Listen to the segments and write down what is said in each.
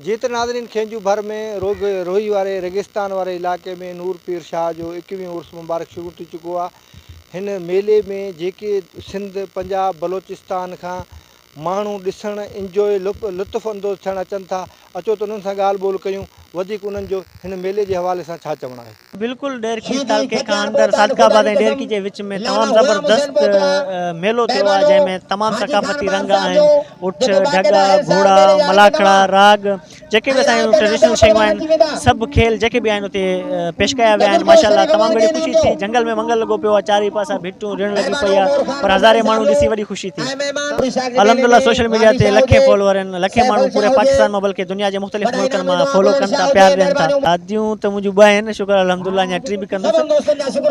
جيئن ته ناظرين خينجو ڀر ۾ روڳ روهي واري ريگستان واري علائقي ۾ نور پير شاهه جو ايڪويهون عرس مبارڪ شروع ٿي چڪو آهي هن ميلي ۾ جيڪي سنڌ پنجاب بلوچستان کان ماڻهو ڏسڻ انجوء لطف اندوز ٿيڻ اچن ٿا اچو ته انهن سان ڳالهه ٻولهه ڪيون وڌيڪ انهن جو هن ميلي جي حوالي سان ڇا چوڻ آهي. بلڪل ڏيرڪي تعلقي کان اندر صادق آباد ۽ ڏيرڪي جي وچ ۾ تمام زبردست ميلو ٿيو آهي جنهن ۾ تمام ثقافتي رنگ آهن اٺ ڍڳا گهوڙا ملاکڙا راڳ جيڪي به اسان ٽريڊيشنل شيون آهن سڀ کيل جيڪي به آهن اتي پيش ڪيا ويا آهن ماشاءالله تمام گهڻي خوشي ٿي جنگل ۾ منگل لڳو پيو آهي چاري پاسا ڀٽون ريڻ لڳي پئي آهي پر هزارين ماڻهو ڏسي وڏي خوشي ٿي الحمدلله سوشل ميڊيا تي لکين فالوور آهن لکين ماڻهو پوري پاڪستان مان بلڪه دنيا جي مختلف ملڪن مان فالو ڪن ٿا پيار ڏين ٿا. شاديون ته منهنجون ٻه آهن شڪر الحمدالله اڃا ٽي به ڪندس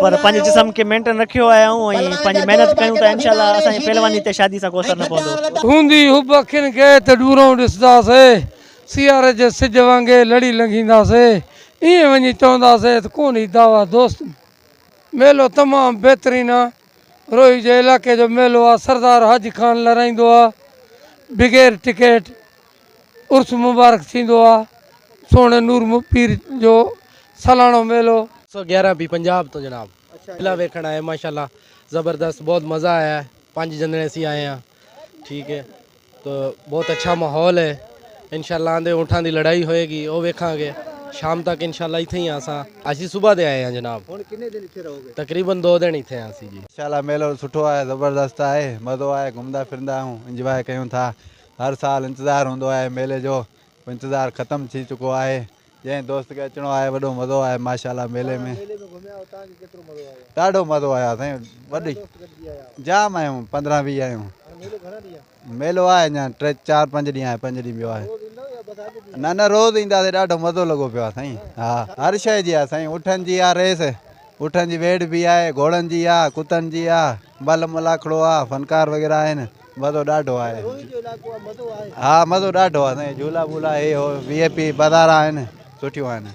پر پنهنجي جسم کي مينٽن رکيو آهي آئون ۽ پنهنجي محنت ڪيون ته انشاء الله اسان جي پهلواني تي شادي سان ڪو اثر نه پوندو. هوندي حب اکين کي ته ڏورئون ڏسنداسي سياري جي سج وانگي لڙي لنگهينداسي ائين وڃي چونداسي ته ڪون هي دعويٰ دوستن ميلو تمام بهترين آهي. روهي جي علائقي جو ميلو آ سردار حاجي خان لھرائيندو آ بغير ٽڪيٽ عرس مبارڪ ٿيندو آ سهڻي نور پير جو سالانو ميلو. سو گيارهن پي پنجاب تون جناب ميلا ويکڻ آئي ماشاءالله زبردست بہت مزا آيا پانچ جنريسي آئي ها ٺيڪ هي. تو بهت اڇا ماحول هي انشاء الله آندي اونٺان دي لڙائي هوئي گي او ويکان گي شام تڪ انشاء الله اتھي هي اسان اسين صبح دي آئي هان جناب هون ڪني دن اتھي رهو گي تقريبا دو دن اتھي هان اسين جي. انشاء الله ميلو سٺو آهي زبردست آهي مزو آهي گهمندا ڦرندا آهيون انجواء ڪيون ٿا هر سال انتظار هوندو آهي ميلي جو انتظار ختم ٿي چڪو آهي جنهن دوست کي اچڻو آهي وڏو مزو آهي ماشاءالله ميلي ۾ ڏاڍو مزو آيو سائين وڏي جام آيون 15 20 آيون ميلو آهي اڃا ٽي چار پنج ڏينهن آهي پنج ڏينهن ٻيو آهي نه نه روز اينداسي ڏاڍو مزو لڳو پيو آهي سائين ها هر شي جي آهي سائين اٺن جي آهي ريس اٺن جي ويڙهه به آهي گهوڙن جي آهي ڪتن جي آهي مل ملاکڙو آ فنڪار وغيره آهن مزو ڏاڍو آهي ها مزو ڏاڍو آهي سائين جهولا وولا هي هو وي آء پي بازار آهن سٺيون آهن